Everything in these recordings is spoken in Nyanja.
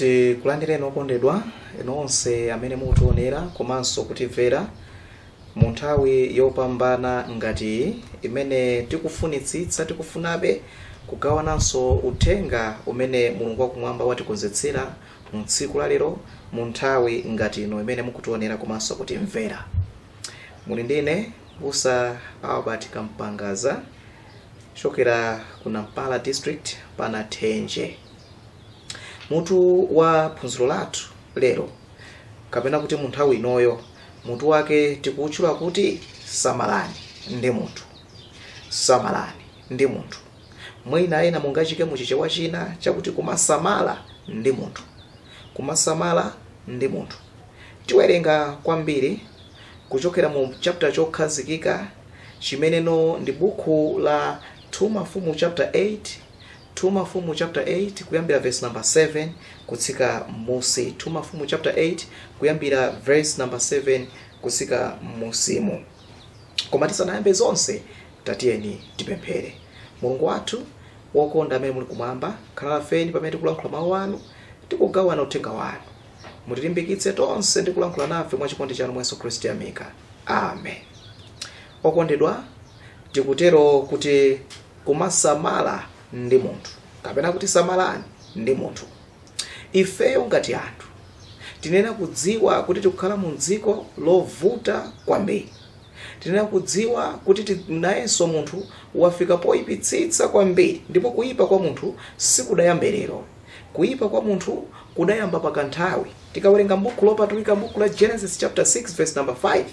tikulandireni okondedwa inu onse amene mukutionera komanso kutimvera mu nthawi yopambana ngati iyi imene tikufunitsitsa tikufunabe kugawananso uthenga umene mulungu wakumwamba watikonzetsera mu tsiku la lero mu nthawi ngati ino imene mukutionera komanso kutimvera muli ndi ine busa albert kampangaza wochokera ku nampala district pana thenje mutu wa phunziro lathu lero kapena kuti mu nthawi inoyo mutu wake tikuutchula kuti samalani ndi munthu samalani ndi munthu mwina ena mungachike mu chichewa china chakuti kumasamala ndi munthu kumasamala ndi munthu Tiwerenga kwambiri kuchokera mu chapter chokhazikika chimeneno ndi bukhu la 2 Mafumu chapter 8 2 Mafumu chapter 8 kuyambira verse number 7 kutsika m'musi 2 Mafumu chapter 8 kuyambira verse number 7 kutsika m'musimo koma tisanayambe zonse tatiyeni tipemphere mulungu wathu wokonda amene muli kumwamba khalani nafe pamene tikulankhula mawu anu tikugawana uthenga wanu mutilimbikitse tonse ndi kulankhula nafe mwa chikondi chanu mwa yesu khristu tayamika amen okondedwa tikutero kuti kumasamala ndi munthu kapena kuti samalani ndi munthu ifeyo ngati anthu tinena kudziwa kuti tikukhala mu dziko lovuta kwambiri tinena kudziwa kuti ti- nayenso munthu wafika poyipitsitsa kwambiri ndipo kuyipa kwa munthu sikudayambe lero kuyipa kwa munthu kudayamba pakanthawi tikawerenga m'bukhu lopatulika m'bukhu la genesis chapter 6 verse number 5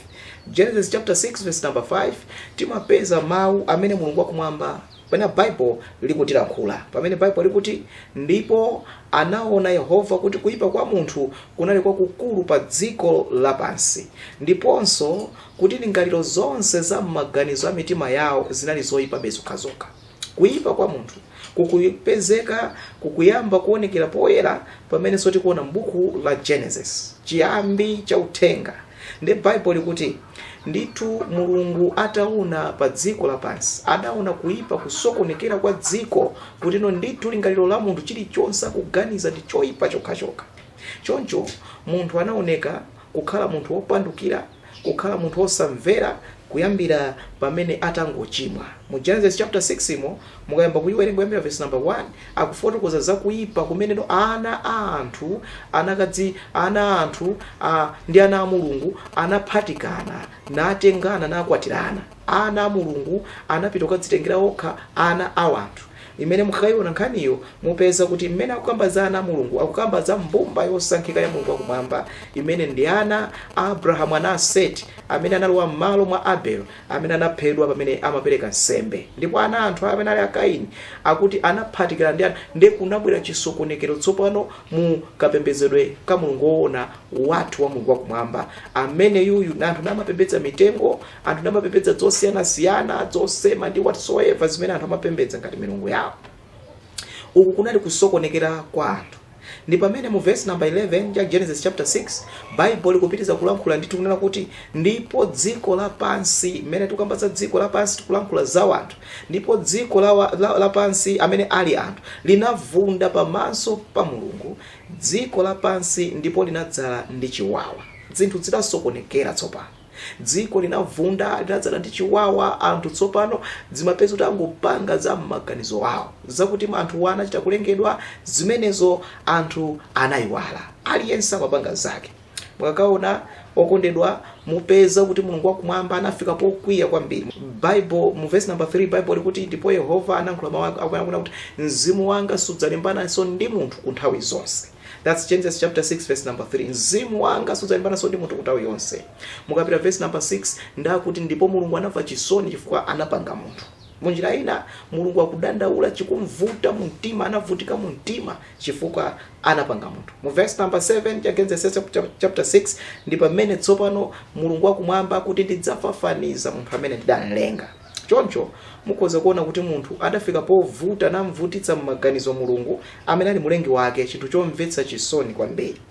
genesis chapter 6 verse number 5 timapeza mawu amene mulungu wakumwamba pamene bible likutilankhula pamene bible likuti ndipo anaona yehova kuti kuyipa kwa munthu kunali kwakukulu pa dziko lapansi ndiponso kuti ndingaliro zonse za m'maganizo a mitima yawo zinali zoyipabe zokhazokha kuyipa kwa munthu kukupezeka kukuyamba kuonekera poyera pamenenso tikuona m'buku la genesis chiyambi cha uthenga nde baibulo likuti ndithu mulungu ataona pa dziko lapansi adaona kuyipa kusokonekera kwa dziko kutino ndithu lingaliro la munthu chilichonse akuganiza ndi choyipa chokhachokha choncho munthu anaoneka kukhala munthu wopandukira kukhala munthu wosamvera kuyambira pamene atangochimwa mu genesis chapter 6 mo mukayamba kuyiwerenga kuyambira verse number 1 akufotokoza za kuyipa kumeneno ana a anthu anakadzi ana a anthu a, ndi ana a mulungu anaphatikana natengana nakwatirana Ana a Mulungu anapita kukadzitengera okha ana a wanthu. Imene mukakaiona nkhaniyo, mupeza kuti mmene akukamba za ana a Mulungu, akukamba za mbumba yosankhika ya Mulungu wakumwamba, imene ndi ana a Abrahamu, ana a Seti, amene analowa m'malo mwa Abel, amene anaphedwa pamene amapereka nsembe. Ndipo ana a anthu amene ali a Kaini akuti anaphatikirana ndi ana, ndiye kunabwera chisokonekero tsopano mu kapembedzedwe ka Mulungu woona, wathu wa Mulungu wakumwamba. Ameneyuyu, anthu namapembedza mitengo. anthu namapembedza zosiyanasiyana zosema ndi whatsoever zimene anthu amapembedza ngati milungu yawo uku kunali kusokonekera kwa anthu ndi pamene mu verse number 11 ya genesis chapter 6 bible likupitiza kulankhula ndithu kunena kuti ndipo dziko lapansi mmene tikukamba za dziko lapansi tikulankhula za wanthu ndipo dziko lawa- la- lapansi amene ali anthu linavunda pamaso pa mulungu dziko lapansi ndipo linadzala ndi chiwawa zinthu zidasokonekera tsopano dziko linavunda linadzala ndi chiwawa anthu tsopano zimapeza kuti angopanga za m'maganizo awo zakuti anthuwa anachita kulengedwa zimenezo anthu anayiwala aliyense amapanga zake mukakaona okondedwa mupeza kuti mulungu wakumwamba anafika pokwiya kwambiri bible mu verse number 3 bible likuti ndipo yehova analankhula mawu ake akunena kuti mzimu wanga sudzalimbanaso ndi munthu ku nthawi zonse That's Genesis chapter 6 verse number 3. Mzimu wanga sudzalimbanaso ndi munthu ku nthawi yonse. Mukapita verse number 6 ndi akuti ndipo Mulungu anamva chisoni chifukwa anapanga munthu. Munjira ina Mulungu akudandaula chikumvuta mu mtima anavutika mu mtima chifukwa anapanga munthu. Mu verse number 7 ya Genesis chapter chapter 6 ndi pamene tsopano Mulungu wakumwamba akuti ndidzafafaniza munthu amene ndidamlenga. Choncho mukhoza kuona kuti munthu adafika povuta namvutitsa m'maganizo Mulungu amene ali Mlengi wake, chinthu chomvetsa chisoni kwambiri.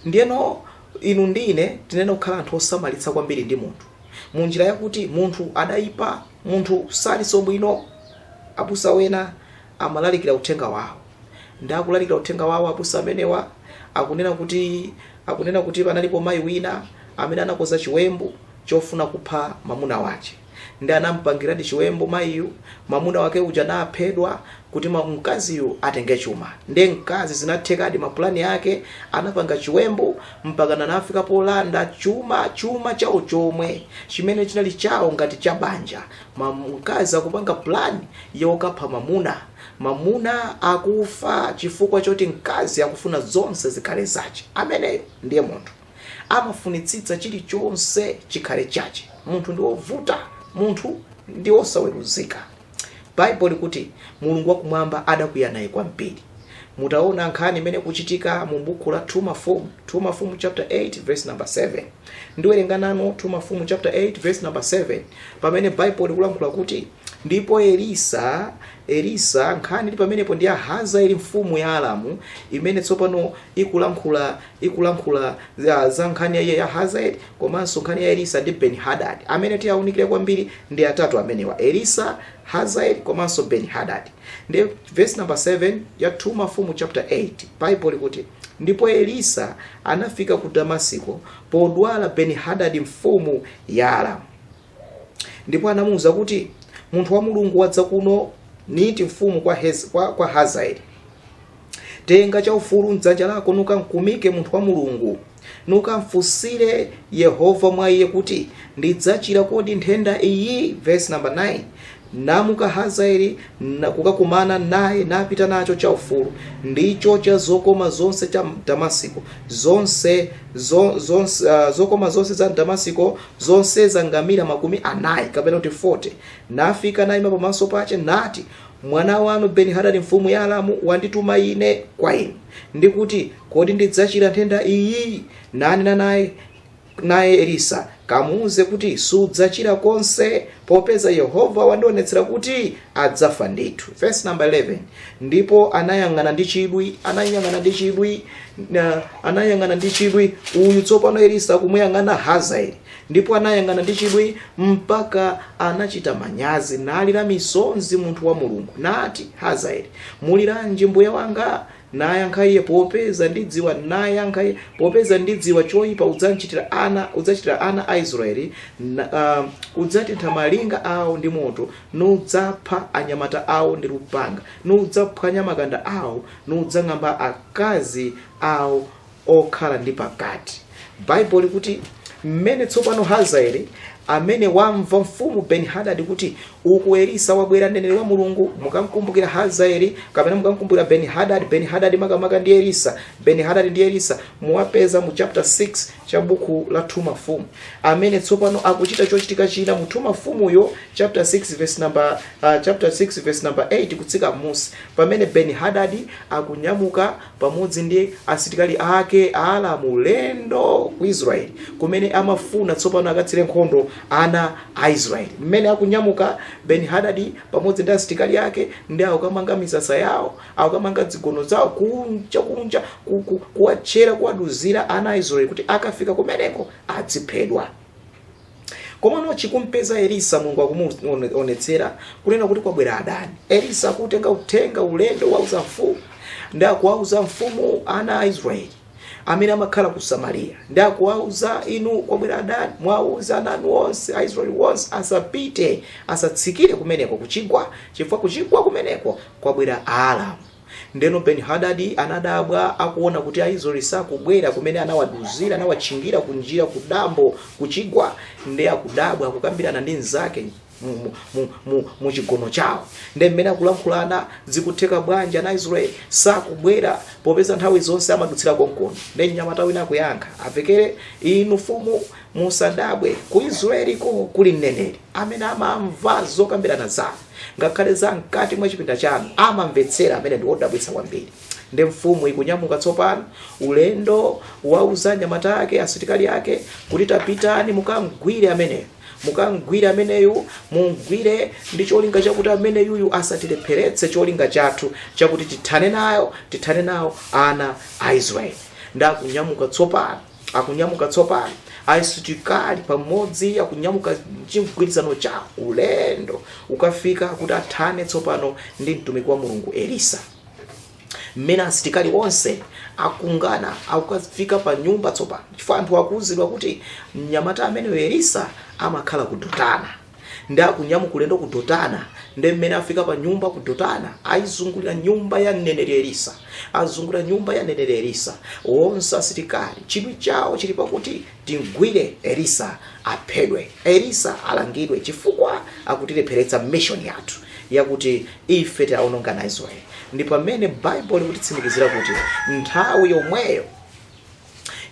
Ndiyeno inu ndi ine tiyenera kukhala anthu osamalitsa kwambiri ndi munthu mu njira yakuti munthu adaipa, munthu salinso bwino. Abusa wena amalalikira uthenga wawo ndi akulalikira uthenga wawo abusa amenewa akunena kuti akunena kuti panalipo mayi wina amene anakoza chiwembu chofuna kupha mamuna wache ndiye anampangiradi chiwembu mayiyu mamuna wake uja naphedwa kuti ma- mkaziyu atenge chuma nde mkazi zinathekadi mapulani ake anapanga chiwembu mpakana anafika polanda chuma chuma chawo chomwe chimene chinali chawo ngati cha banja Ma- mkazi akupanga pulani yokapha mamuna mamuna akufa chifukwa choti mkazi akufuna zonse zikhale zache ameneyo ndiye munthu amafunitsitsa chilichonse chikhale chache munthu ndi wovuta munthu ndi wosaweruzika baibulo likuti mulungu wakumwamba adakwiya naye kwambiri mutaona nkhani imene ikuchitika mu buku la 2 mafumu 2 mafumu chapter 8 verse number 7 ndiwerenga nanu 2 mafumu chapter 8 verse number 7 pamene baibulo likulankhula kuti ndipo elisa elisa nkhani ili pamenepo ndi ya hazaeli mfumu ya aramu imene tsopano ikulankhula ikulankhula za, za nkhani ya ya Hazael komanso nkhani ya Elisa ndi Ben Hadad. Amene tiyaunikire kwambiri ndi atatu amenewa, Elisa, Hazael komanso Ben Hadad. Ndi verse number 7 ya 2 Mafumu chapter 8. Bible likuti ndipo Elisa anafika ku Damasiko podwala Ben Hadad mfumu ya Aramu. Ndipo anamuwuza kuti munthu wa Mulungu wadza kuno niiti mfumu kwa, Hez, kwa, kwa Hazaeli tenga chaufulu mdzanja lako nukamkumike munthu wa mulungu nukamfunsire yehova mwa iye kuti ndidzachira kodi nthenda iyi verse number 9 namuka hazaeli na- kukakumana naye napita nacho chaufulu ndicho cha zokoma zonse cha m'damasiko zonse zo, zonse, uh, zokoma zonse za m'damasiko zonse za ngamira makumi anayi kapena kuti 40 nafika naima pamaso pache nati Mwana wanu Beni-hadadi mfumu ya Aramu wandituma ine kwa inu, ndi kuti, Kodi ndidzachira nthenda iyi? Nanena naye naye Elisa, kamuuze kuti sudzachira konse, popeza Yehova wandionetsera kuti adzafa ndithu. Verse number 11. Ndipo anayang'ana ndi chidwi, anayang'ana ndi chidwi, na- anayang'ana ndi chidwi uyu tsopano Elisa kumuyang'ana Hazaeli. ndipo anayang'ana ndi chidwi mpaka anachita manyazi nalira misonzi munthu wa mulungu nati hazaeli muliranji mbuye wanga nayankha iye popeza ndidziwa nayankha iye popeza ndidziwa choyipa udzachitira ana udzachitira ana a israeli na, uh, udzatentha malinga awo ndi moto nudzapha anyamata awo ndi lupanga nudzaphwanya makanda awo nudzang'amba akazi awo okhala ndi pakati baibulo likuti mmene tsopano hazaeli amene wamva mfumu benihadadi kuti uku elisa wabwera mneneri wa mulungu mukamkumbukira hazaeli kapena mukamkumbukira benihadadi benihadadi makamaka ndi elisa benihadadi ndi elisa muwapeza mu chapter 6 cha buku la 2 mafumu amene tsopano akuchita chochitika china mu 2 mafumuyo chapter 6 verse number uh, chapter 6 verse number 8 kutsika m'munsi pamene benihadadi akunyamuka pamodzi ndi asitikali ake Aaramu ulendo ku israeli kumene amafuna tsopano akatsire nkhondo ana a israeli mmene akunyamuka ben hadadi pamodzi ndi asitikali ake ndi akukamanga misasa yawo akukamanga dzigono zawo kunja kunja ku- ku- kuwatchera kuwaduzira ana a israeli kuti akafika kumeneko adziphedwa komano chikumpeza elisa mulungu akumuonetsera kunena kuti kwabwera adani elisa akutenga uthenga ulendo wouza mfumu ndi akuwauza mfumu ana a israeli amene amakhala ku samariya ndi akuwauza inu kwabwera adani muwauze ana anu onse a israeli onse asapite asatsikire kumeneko kuchigwa chifukwa kuchigwa kumeneko kwabwera Aaramu Ndeno Benihadadi anadabwa, akuona kuti Aisraele sakubwera kumene anawaduzira, anawatchingira kunjira, kudambo, kuchigwa. Nde akudabwa, akukambirana ndi anzake mu, mu, mu, mu, mu chigono chawo. Nde mmene akulankhulana, zikutheka bwanji ana Aisraele sakubwera popeza nthawi zonse amadutsira konkono? Nde mnyamata wina akuyankha, avekere inu mfumu musadabwe, ku Israeliko kuli mneneri amene amamva zokambirana zanu. Ngakhale za mkati mwa chipinda chanu amamvetsera amene ndi odabwitsa kwambiri. Nde mfumu ikunyamuka tsopano ulendo wouza anyamata ake asitikali ake kuti tapitani mukamgwire ameneyo mukamgwire ameneyu mumgwire ndi cholinga chakuti ameneyuyu asatilepheretse cholinga chathu chakuti tithane nayo tithane nawo ana a israeli nde akunyamuka tsopano akunyamuka tsopano asitikali pamodzi akunyamuka chigwirizano cha ulendo wokafika kuti athane tsopano ndi mtumiki wa mulungu elisa mmene asitikali onse akuungana akukafika pa nyumba tsopano chifukwa anthu akuuzidwa kuti mnyamata ameneyo elisa amakhala ku dotana ndi akunyamuka ulendo ku dotana ndi mmene afika pa nyumba ku dotana ayizungulira nyumba ya mneneri elisa azungulira nyumba ya mneneri elisa onse asilikali chidwi chawo chili pakuti timgwire elisa aphedwe elisa alangidwe chifukwa akutilepheretsa mission yathu yakuti ife tiwaononge ana a israeli ndi pamene baibulo likutitsimikizira kuti nthawi yomweyo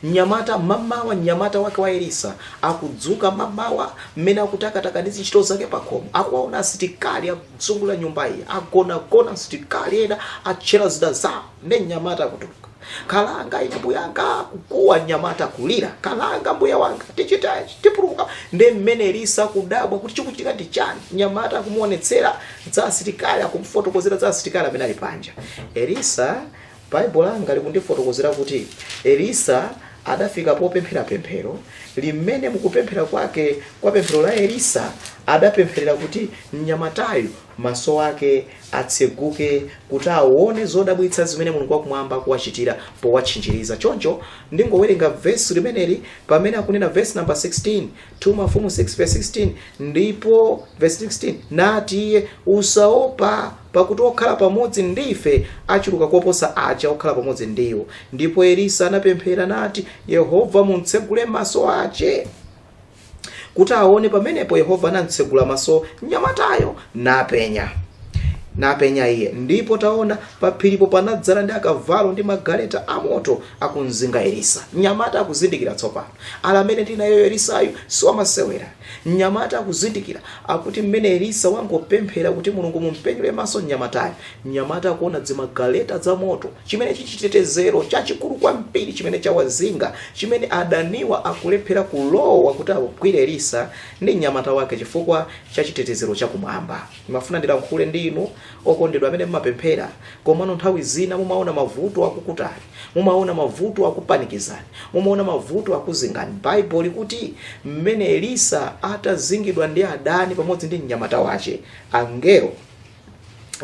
Mnyamata, mmamawa, mnyamata wake wa Elisa, akudzuka mmamawa, mmene akutakataka ndi zintchito zake pakhomo, akuwaona asitikali akuzungulira nyumba iyi, agonagona asitikali ena, atchera zida zawo, ndi mnyamata akutuluka. Kalanga ine mbuyanga, kukuwa mnyamata kulira, kalanga mbuya wanga, tichitachi, tipulumuka. Ndi mmene Elisa akudabwa kuti chikuchitika ndi chani. Mnyamata akumuonetsera za asitikali, akumufotokozera za asitikali amene ali panja. Elisa Bible langa likundifotokozera kuti Elisa adafika popemphera pemphero limene m'kupemphera kwake kwa pemphero la Elisa adapempherera kuti mnyamatayu maso ake atseguke kuti aone zodabwitsa zimene mulungu wakumwamba akuwachitira powatchinjiriza choncho ndingowerenga vesi limeneli pamene akunena vesi namba 16 2 mafumu 6 verse 16 ndipo verse 16 nati iye usaopa pakuti okhala pamodzi ndi ife achuluka koposa aja okhala pamodzi ndi iwo ndipo elisa anapemphera nati yehova mumtsegule maso ace kuti aone pamenepo yehova anamtsegula maso mnyamatayo napenya iye ndipo taona paphiripo panadzala ndi akavalo ndi magaleta amoto akumzinga Elisa. Mnyamata akuzindikira tsopano. Ala amene ndi nayeyu Elisayu si wamasewera. Mnyamata akuzindikira akuti mmene Elisa wangopemphera kuti Mulungu mumpenyule maso mnyamatayu. Mnyamata akuona dzimagaleta dza moto chimene chichitetezero chachikulu kwambiri chimene chawazinga chimene adaniwa akulephera kulowa kuti agwire Elisa ndi mnyamata wake chifukwa cha chitetezero chakumwamba. Ndimafuna ndilankhule ndi inu Okondedwa amene mumapemphera komano nthawi zina mumaona mavuto akukutani, mumaona mavuto akupanikizani, mumaona mavuto akuzingani. Bible likuti mmene Elisa atazingidwa ndi adani pamodzi ndi mnyamata wace, angelo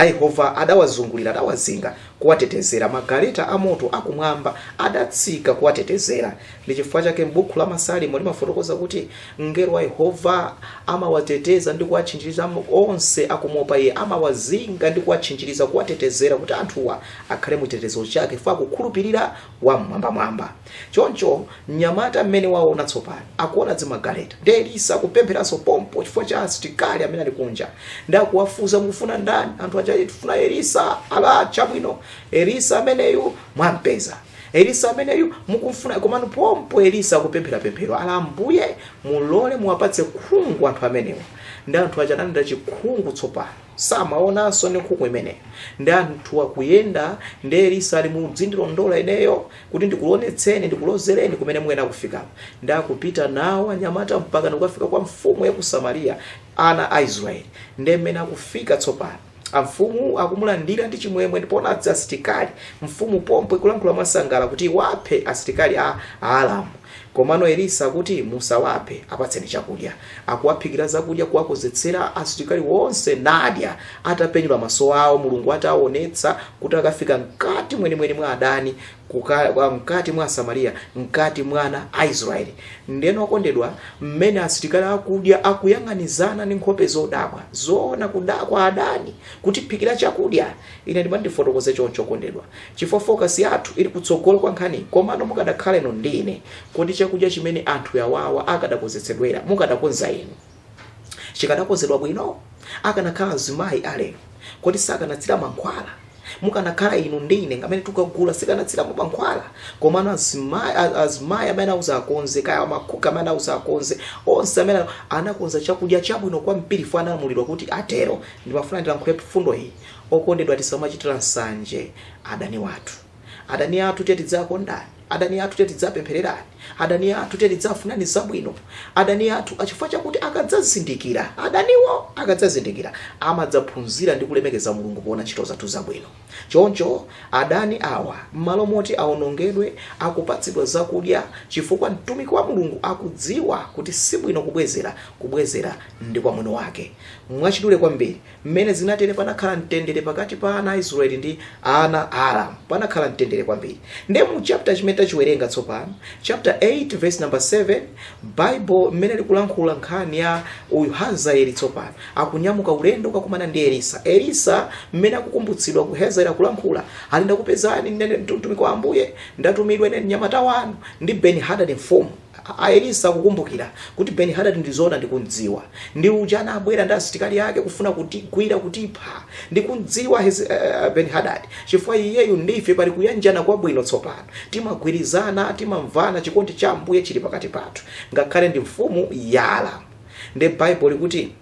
a Yehova adawazungulira, adawazinga kuwatetezera. Magaleta amoto akumwamba adatsika kuwatetezera. Ndi chifukwa chake m'buku la Masalimo limafotokoza kuti Mngelo wa Yehova amawateteza ndi kuwatchinjiriza onse akumuopa iye, amawazinga ndi kuwatchinjiriza, kuwatetezera kuti anthuwa akhale mu chitetezo chake chifukwa akukhulupirira Wam'mwambamwamba. Choncho mnyamata mmene waona tsopano, akuona dzimagaleta. Ndi Elisa akupempheranso pompo chifukwa cha asitikali amene ali kunja. Ndi akuwafunsa mukufuna ndani? Anthu aja ati tifuna Elisa. Ala, chabwino, Elisa ameneyu mwampeza. elisa ameneyu mukumfuna komano pompo elisa akupemphera pemphero ala ambuye mulole muwapatse khungu anthu amenewa ndi anthu aja analandira chikhungu tsopano samaonanso ndi khungu limenelo ndi anthu akuyenda ndi elisa ali mudzindilondola ineyo kuti ndikuonetseni ndikulozereni kumene muyenera kufikako ndi akupita nawo anyamata mpaka ndikukafika kwa mfumu ya ku samariya ana a israeli ndi mmene akufika tsopano amfumu akumulandira ndi chimwemwe ndipo nadza asitikali mfumu pompo ikulankhula mwasangala kuti iwaphe asitikali a aramu komano elisa akuti musawaphe apatseni chakudya akuwaphikira zakudya kuwakozetsera asitikali wonse nadya atapenyula maso awo mulungu ataonetsa kuti akafika mkati mwenimweni mwa adani mkati mwa Samariya mkati mwa ana a Israeli ndeno okondedwa mmene asitikali akudya akuyang'anizana ndi nkhope zodabwa zoona kudakwa adani kutiphikira chakudya ine ndimati ndifotokoze choncho okondedwa chifukwa fokasi yathu ili kutsogolo kwa nkhani komano mukadakhala inu ndi ine kodi chakudya chimene anthu yawawa akadakonzetsedwera mukadakonza inu chikadakonzedwa bwino akanakhala azimayi alero kodi sakanatsira mankhwala mukanakhala inu ndi ine ngamene tikagula sikanatsira mankhwala komano azimayi a- azimayi amene anauza akonze kaya makuka amene anauza akonze onse amene anakonza chakudya chabwino kwambiri fo analamulidwa kuti atero ndimafuna ndilankhule mfundo iyi okondedwa tisamachitira nsanje adani wathu adani athu tiye tidzawakonda adani athu tiye tidzawapempherera adani athu tiye tidzawafunira zabwino adani athu a chifukwa chakuti akadzazindikira adaniwo akadzazindikira amadzaphunzira ndi kulemekeza mulungu poona ntchito zathu zabwino choncho adani awa m'malo moti awonongedwe akupatsidwa zakudya chifukwa mtumiki wa mulungu akudziwa kuti sibwino kubwezera kubwezera ndi kwa mwini wake mwachidule kwambiri M'mene zinatere panakhala mtendere pakati pa ana a Israyeli ndi ana a Aramu. Panakhala mtendere kwambiri. Ndiye mu chapter chimene tachiwerenga tsopano, chapter 8 verse number 7, Bible m'mene likulankhula nkhani ya uyu Hazaeli tsopano akunyamuka ulendo kukakumana ndi Elisa. Elisa m'mene akukumbutsidwa kwa Hazaeli akulankhula, ali ndakupezani ndine mtumiki wa Ambuye, ndatumidwa ine mnyamata wanu ndi Ben Hadad mfumu. A Elisa akukumbukira kuti Benihadadi ndi zoona ndikum'dziwa. Ndi uja anabwera ndi asitikali ake kufuna kutigwira, kutipha. Ndikum'dziwa Benihadadi chifukwa iyeyu ndi ife pali kuyanjana kwabwino tsopano. Timagwirizana, timamvana, chikondi cha Ambuye chili pakati pathu. Ngakhale ndi mfumu ya Aramu. Ndiye Baibulo likuti.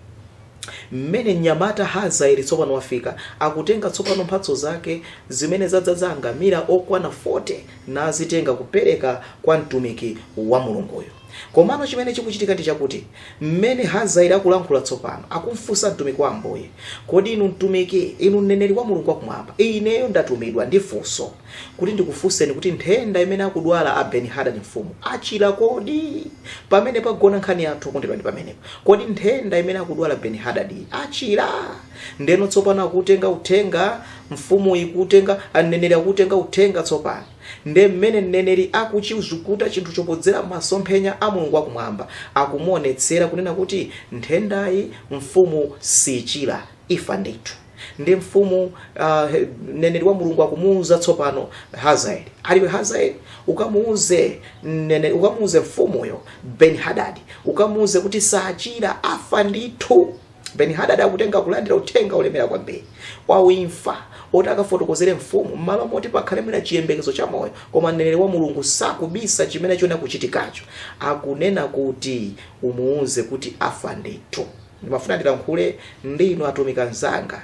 Mmene mnyamata Hazaeli tsopano wafika, akutenga tsopano mphatso zake zimene zadzaza angamila okwana 40 nazitenga kupereka kwa mtumiki wa Mulunguyu. Komano chimene chikuchitika ndi chakuti mmene Hazaeli akulankhula tsopano, akumfunsa mtumiki wa Ambuye, Kodi inu mtumiki, inu mneneri wa Mulungu wakumwamba, ineyo ndatumidwa ndi funso. kuti ndikufunseni kuti nthenda imene akudwala a Ben Hadad mfumu achira kodi? Pamene pagona nkhani yathu kondedwa ndi pamenepo. Kodi nthenda imene akudwala Ben Hadad iyi achira? Ndeno tsopano akutenga uthenga mfumu ikutenga mneneri akutenga uthenga tsopano. Nde mmene mneneri akuchizukuta chinthucho podzera masomphenya a Mulungu wakumwamba akumuonetsera kunena kuti nthendayi mfumu sichira ifa ndithu. ndi mfumu uh, he- mneneri wa mulungu akumuuza tsopano hazaeli aliwe hazaeli ukamuuze mnene- ukamuuze mfumuyo ben hadadi ukamuuze kuti sachira afa ndithu ben hadadi akutenga kulandira uthenga olemera kwambiri wa imfa woti akafotokozere mfumu m'malo moti pakhale mwina chiyembekezo cha moyo koma mneneri wa mulungu sakubisa chimene choona kuchitikacho akunena kuti umuuze kuti afa ndithu Ndimafuna ndilankhule ndi inu atumiki anzanga,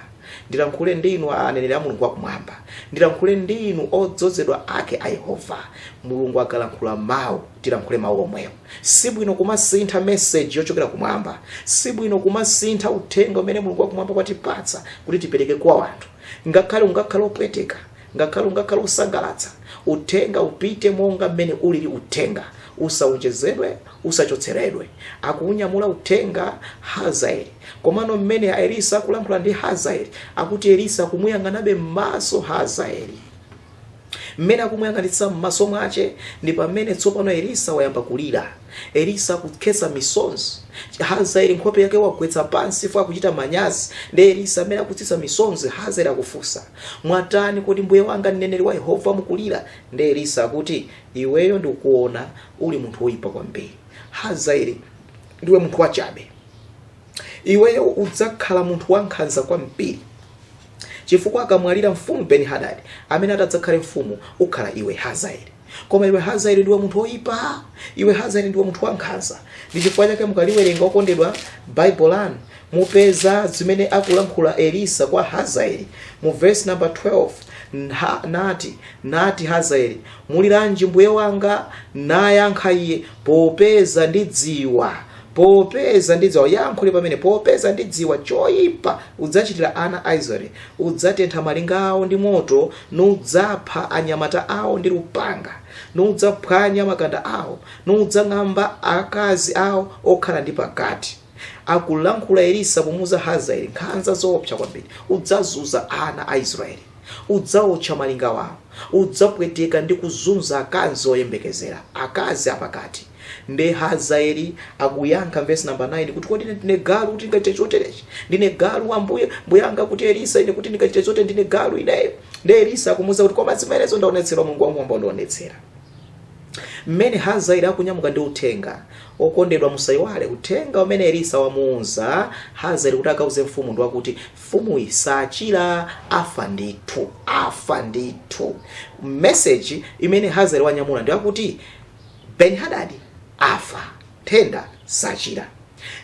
ndilankhule ndi inu aneneri a Mulungu wakumwamba, ndilankhule ndi inu odzozedwa ake a Yehova. Mulungu akalankhula mawu, tilankhule mawu omwewo. Si bwino kumasintha meseji yochokera kumwamba, si bwino kumasintha uthenga umene Mulungu wakumwamba watipatsa kuti tipereke kwa wanthu, ngakhale ungakhale opweteka, ngakhale ungakhale osangalatsa. Uthenga upite monga mmene ulili uthenga, usawonjezedwe, usachotseredwe akuunyamula uthenga hazaeli komano mmene elisa akulankhula ndi hazaeli akuti elisa akumuyang'anabe m'maso hazaeli mmene akumuyang'anitsa m'maso mwache ndi pamene tsopano elisa wayamba kulira elisa akukhetsa misonzi hazaeli nkhope yake wagwetsa pansi chifukwa akuchita manyazi ndi elisa amene akutsitsa misonzi hazaeli akufunsa mwatani kodi mbuye wanga mneneri wa yehova mukulira ndi elisa akuti iweyo ndikuona uli munthu woyipa kwambiri hazaeli ndiwe munthu wachabe iweyo udzakhala munthu wankhanza kwambiri chifukwa akamwalira mfumu beni hadadi amene atadzakhale mfumu ukhala iwe hazaeli koma iwe hazaeli ndiwe munthu woyipa iwe hazaeli ndiwe munthu wankhanza ndi chifukwa chake mukaliwerenga okondedwa baibulo lanu mupeza zimene akulankhula elisa kwa hazaeli mu vesi namba 12 nha- nati nati hazaeli muliranji mbuye wanga nayankha iye popeza ndidziwa popeza ndidziwa yankho li pamene popeza ndidziwa choyipa udzachitira ana a israeli udzatentha malinga awo ndi moto nudzapha anyamata awo ndi lupanga nudzaphwanya makanda awo nudzang'amba akazi awo okhala ndi pakati akulankhula elisa kumuuza hazaeli nkhanza zoopsa kwambiri udzazunza ana a israeli Udzaotcha malinga awo, udzapweteka ndi kuzunza akazi oyembekezera, akazi apakati. Nde Hazaeli akuyankha m'vesi namba 9 kuti, Kodi ine ndine galu kuti ndikachite choterechi? Ndine galu ambuye, mbuyanga akuti Elisa ine kuti ndikachite chotere ndine galu ineyo? Nde Elisa akumuuza kuti, koma zimenezo wandionetsera Mulungu wakumwamba wandionetsera. Mmene Hazaeli akunyamuka ndi uthenga, okondedwa musaiwale uthenga umene Elisa wamuuza Hazaeli kuti akauze mfumu ndi wakuti, Mfumuyi sachira afa ndithu afa ndithu message imene Hazael wanyamula ndiyakuti Ben Hadad afa nthenda sachira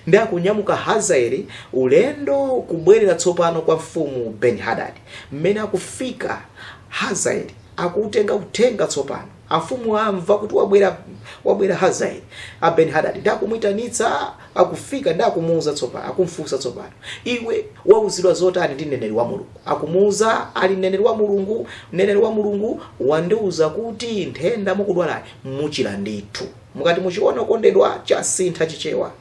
ndi akunyamuka Hazael ulendo kubwerera tsopano kwa mfumu Ben Hadad mmene akufika Hazael akuutenga uthenga tsopano amfumu amva kuti wabwera wabwera hazaeli abeni hadadi ndi akumuitanitsa akufika ndi akumuuza tsopano akumfunsa tsopano iwe wauzidwa zotani ndi mneneri wa mulungu akumuuza ali mneneri wa mulungu mneneri wa mulungu wandiuza kuti nthenda mukudwalayi muchira ndithu mukati muchiona okondedwa chasintha chichewa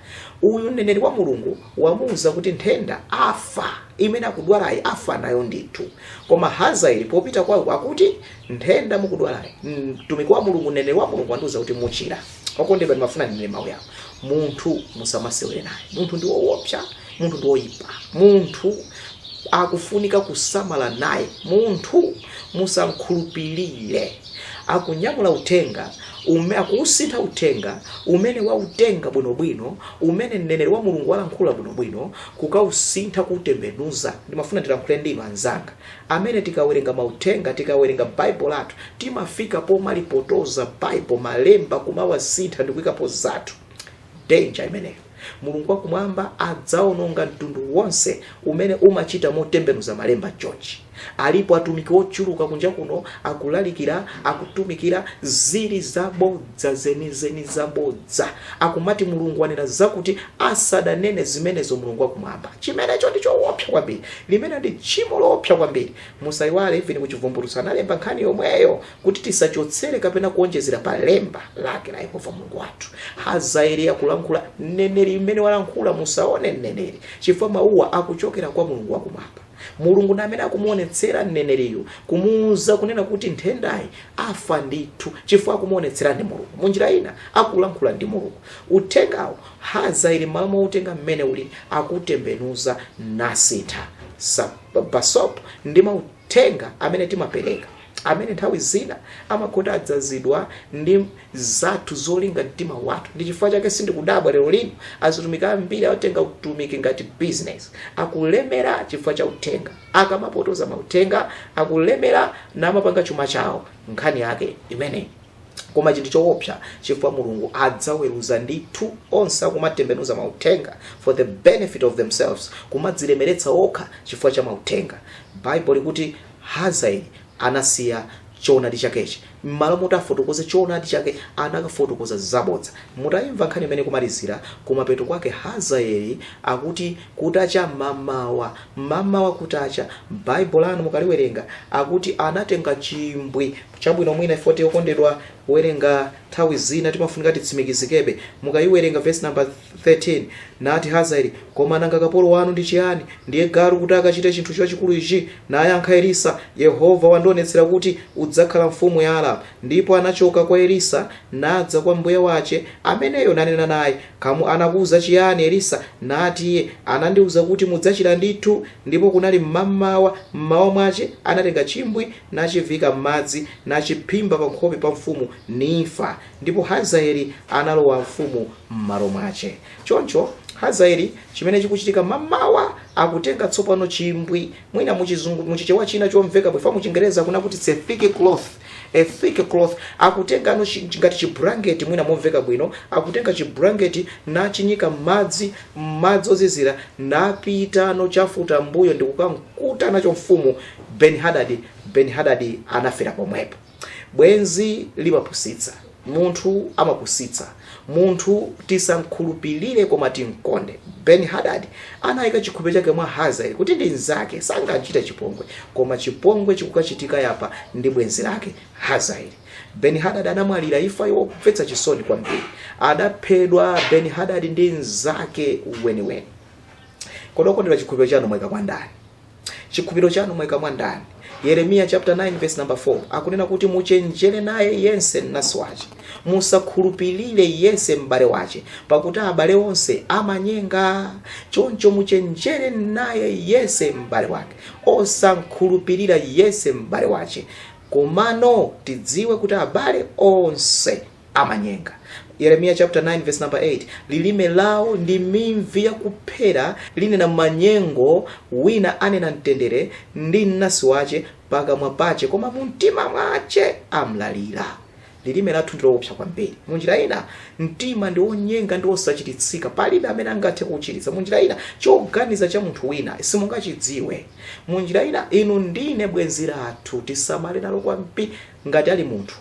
uyu mneneri wa mulungu wamuuza kuti nthenda afa imene akudwalayi afa nayo ndithu koma hazaeli popita kwawo akuti nthenda mukudwalayi mtumiki wa mulungu mneneri wa mulungu wandiuza kuti muchira okondedwa ndimafuna ndinene mawu awo munthu musamasewere naye munthu ndi woopsa munthu ndi woyipa munthu akufunika kusamala naye munthu musamkhulupirire akunyamula uthenga ume akuusintha uthenga umene wautenga bwinobwino umene mneneri wa mulungu walankhula bwinobwino kukausintha kuutembenuza ndimafuna ndilankhule ndinu anzanga Amene tikawerenga mauthenga, tikawerenga Bible lathu, timafika pomalipotoza Bible, malemba kumawasintha ndikuikapo zathu. Danger imeneyo. Mulungu wakumwamba adzaononga mtundu wonse umene umachita motembenuza malemba chonchi. Alipo atumiki ochuluka kunja kuno akulalikira, akutumikira zili zabodza zenizeni zabodza. Akumati Mulungu wanena zakuti asadanene zimenezo mulungu wakumwamba chimenecho ndi chowopsa kwambiri limeneli ndi tchimo lowopsa kwambiri musayiwale even kuchivumbulutso analemba nkhani yomweyo kuti tisachotsere kapena kuonjezera pa lemba lake la yehova mulungu wathu hazaeli akulankhula mneneri mmene walankhula musaone mneneri chifukwa mawuwa akuchokera kwa mulungu wakumwamba mulungu ndi amene akumuonetsera mneneriyo kumuuza kunena kuti nthendayi afa ndithu chifukwa akumuonetsera ndi mulungu munjira ina akulankhula ndi mulungu uthengawo hazaeli mmalo moutenga mmene uli akutembenuza nasintha Sa- basop ndi mauthenga amene timapereka amene nthawi zina amakhala adzazidwa ndi zathu zolinga mtima wathu ndi chifukwa chake sindikudabwa lero lino azitumiki ambiri atenga utumiki ngati business akulemera chifukwa cha uthenga akamapotoza mauthenga akulemera namapanga chuma chawo nkhani yake imeneyi koma chinthu choopsa chifukwa mulungu adzaweruza ndithu onse akumatembenuza mauthenga for the benefit of themselves kumadzilemeretsa okha chifukwa cha mauthenga baibulo likuti Hazaeli anasiya choonadi chakechi. M'malo moti afotokoze choonadi chake, anakafotokoza zabodza. Mutaimva nkhani imene ikumalizira, kumapeto kwake Hazaeli akuti, Kutacha mamawa, mamawa kutacha, m'Baibulo lanu mukaliwerenga, akuti anatenga chimbwi. Chabwino, mwina chifukwa choti okondedwa kuwerenga nthawi zina timafunika titsimikizikebe. Mukaiwerenga vesi namba 3. 13 nati hazaeli koma nanga kapolo wanu ndi chiyani ndiye galu kuti akachite chinthu chachikulu ichi nayankha elisa yehova wandionetsera kuti udzakhala mfumu ya aramu ndipo anachoka kwa elisa nadza kwa mbuye wace ameneyo nanena naye kamu anakuuza chiyani elisa nati iye anandiuza kuti mudzachira ndithu ndipo kunali mmamawa mmawa mwace anatenga chimbwi nachivika m'madzi nachiphimba pa nkhope pa mfumu nifa ndipo hazaeli analowa mfumu m'malo mwace. Choncho, Hazaeli, chimene chikuchitika mamawa, akutenga tsopano chimbwi, mwina muchizungu, muchichewa china chomveka bwino, fa muchingerezi akunena kuti it's a thick cloth, a thick cloth, akutengano chi- chi- ngati chibulangeti mwina momveka bwino, akutenga chibulangeti nachinyika m'madzi, m'madzi ozizira, napitano chafutambuyo ndikukamkuta nacho mfumu Ben Hadadi. Ben Hadadi anafera pomwepo. bwenzi limapusitsa munthu amapusitsa munthu tisamkhulupirire koma timkonde ben hadad anayika chikhulupiriro chake mwa hazaeli kuti ndi mnzake sangamchite chipongwe koma chipongwe chikukachitika apa ndi bwenzi lake hazaeli ben hadad anamwalira imfa yomvetsa chisoni kwambiri adaphedwa ben hadad ndi mnzake weniweni kodi okondedwa chikhulupiriro chanu mwaika kwa ndani chikhulupiriro chanu mwaika mwa ndani yeremiya chapter 9 verse number 4 akunena kuti muchenjere naye yense mnansi wace musakhulupirire yense m'bale wace pakuti abale onse amanyenga choncho muchenjere naye yense m'bale wake osamkhulupirira yense m'bale wace komano tidziwe kuti abale onse amanyenga yeremiya chapter 9 verse number 8 lilime lawo ndi mimvi yakuphera linena manyengo wina anena mtendere ndi mnansi wace pakamwa pace koma mu mtima mwace amlalira lilime lathu ndilowopsa kwambiri munjira ina mtima ndi wonyenga ndi wosachiritsika palibe amene angathe kuuchiritsa munjira ina choganiza cha munthu wina simungachidziwe munjira ina inu ndi ine bwenzi lathu tisamale nalo kwambiri ngati ali munthu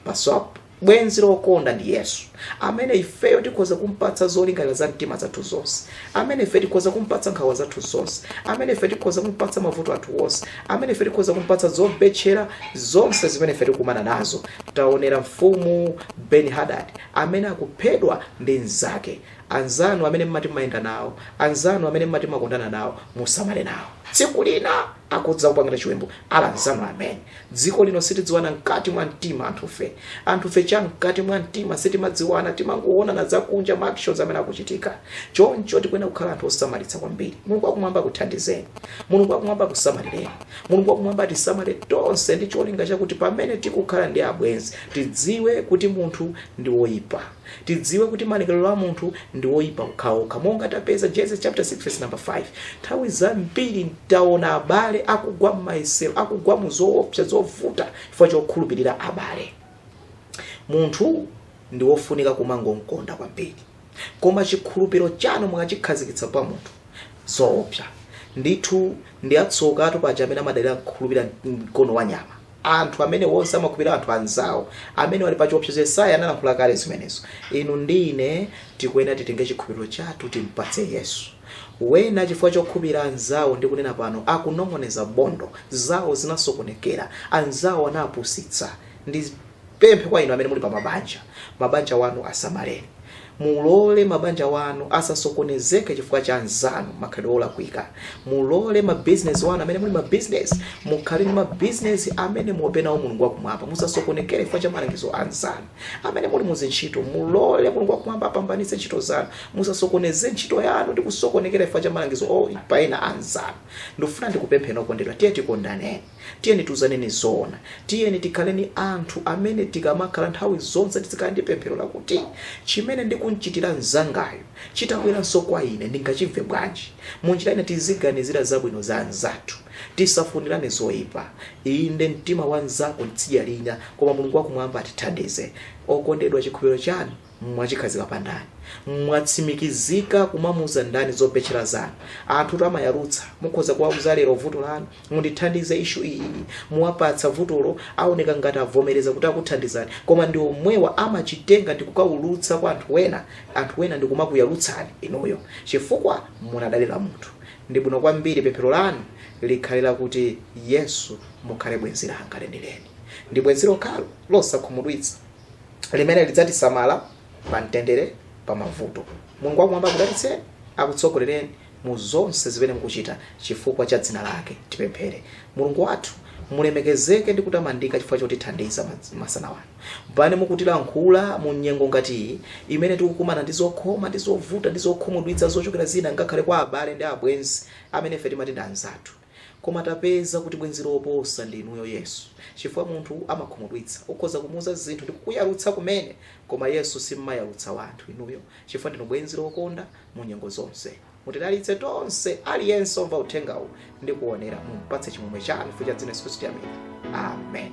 maso a bwenzi lokonda ndi yesu amene ifeyo tikhoza kumpatsa zolingalira za mtima zathu zonse amene ife tikhoza kumpatsa nkhawa zathu zonse amene ife tikhoza kumpatsa mavuto athu onse amene ife tikhoza kumpatsa zobetchera zonse zimene ife tikumana nazo taonera mfumu ben hadad amene akuphedwa ndi mnzake anzanu amene mmati mayenda nawo anzanu amene mmati makondana nawo musamale nawo tsiku lina adzakupangirani chiwembu ala anzanu amene dziko lino sitidziwana mkati mwa mtima anthufe anthufe cha mkati mwa mtima sitimadziwana timangoonana zakunja ma actions amene akuchitika choncho tikuyenera kukhala anthu osamalitsa kwambiri mulungu wakumwamba akuthandizeni mulungu wakumwamba akusamalireni mulungu wakumwamba atisamale tonse ndi cholinga chakuti pamene tikukhala ndi abwenzi tidziwe kuti munthu ndi woyipa tidziwe kuti malingaliro a munthu ndi woyipa okhaokha monga tapeza genesis chapter 6 verse number 5 nthawi zambiri taona abale akugwa m'mayesero akugwa mu zoopsa zovuta chifukwa chokhulupirira abale munthu ndi wofunika kumangomkonda kwambiri koma chikhulupiriro chanu mukachikhazikitsa pa munthu zoopsa ndithu ndi atsokatu paja amene amadalira kukhulupirira mkono wa nyama anthu amene onse amakhulupirira anthu anzawo amene ali pa chiopsezo yesaya analankhula kale zimenezo inu ndi ine tikuyenera titenge chikhulupiriro chathu timpatse yesu wena chifukwa chokhulupirira anzawo ndikunena pano akunong'oneza bondo zawo zinasokonekera anzawo anawapusitsa ndi ndipemphe kwa inu amene muli pa mabanja mabanja wanu asamaleni mulole mabanja wanu asasokonezeke chifukwa cha anzanu makhalidwe olakwika mulole mabizinesi wanu amene muli mabizinesi mukhale ndi mabizinesi amene muope nawo mulungu wakumwamba musasokonekere chifukwa cha malangizo a anzanu amene muli muzintchito mulole mulungu wakumwamba apambanitse ntchito zanu musasokoneze ntchito yanu ndi kusokonekera chifukwa cha malangizo oipa a anzanu ndikufuna ndikupempheni okondedwa tiye tikondaneni Tiyeni tiuzaneni zoona. Tiyeni tikhale ni anthu amene tikamakhala nthawi zonse tizikhala ndi pemphero lakuti, Cimene ndikum'citira mnzangayo, citabweranso kwa ine ndingacimve bwanji? Mu njira ina, tiziganizira zabwino za anzathu. Tisafunirane zoipa. Inde, mtima wa mnzako ni tsidya lina, koma Mulungu wa Kumwamba atithandize. Okondedwa, cikhulupiriro canu. mwachikhazika pa ndani mwatsimikizika kumamuza ndani zobetchera zanu anthutu amayalutsa mukhoza kuwauza lero vuto lanu mundithandize ishu iyi muwapatsa vutolo aoneka ngati avomereza kuti akuthandizani koma ndi omwewa amachitenga ndi kukaulutsa kwa anthu wena anthu wena ndi kumakuyalutsani inuyo chifukwa munadalira munthu ndi bwino kwambiri pemphero lanu likhale lakuti yesu mukhale bwenzi langa lenileni ndi bwenzi lokhalo losakhumudwitsa limene lidzatisamala pa mtendere pa mavuto mulungu wakumwamba akudalitseni akutsogolereni mu zonse zimene mukuchita chifukwa cha dzina lake tipemphere mulungu wathu mulemekezeke ndi kutamandika chifukwa chotithandiza masana ano pamene mukutilankhula mu nyengo ngati iyi imene tikukumana ndi zokhoma ndi zovuta ndi zokhumudwitsa zochokera zina ngakhale kwa abale ndi abwenzi amene ife timati ndi anzathu Koma tapeza kuti bwenzi loposa ndi inuyo Yesu. Chifukwa munthu amakhumudwitsa. Ukhoza kumuuza zinthu ndi kukuyalutsa kumene, koma Yesu simmayalutsa wanthu inuyo chifukwa ndinu bwenzi lokonda mu nyengo zonse. Mutidalitse tonse, aliyense omva uthengawu ndi kuonera. Mumpatse chimwemwe chanu chifukwa cha dzina la Yesu Khristu. Amen.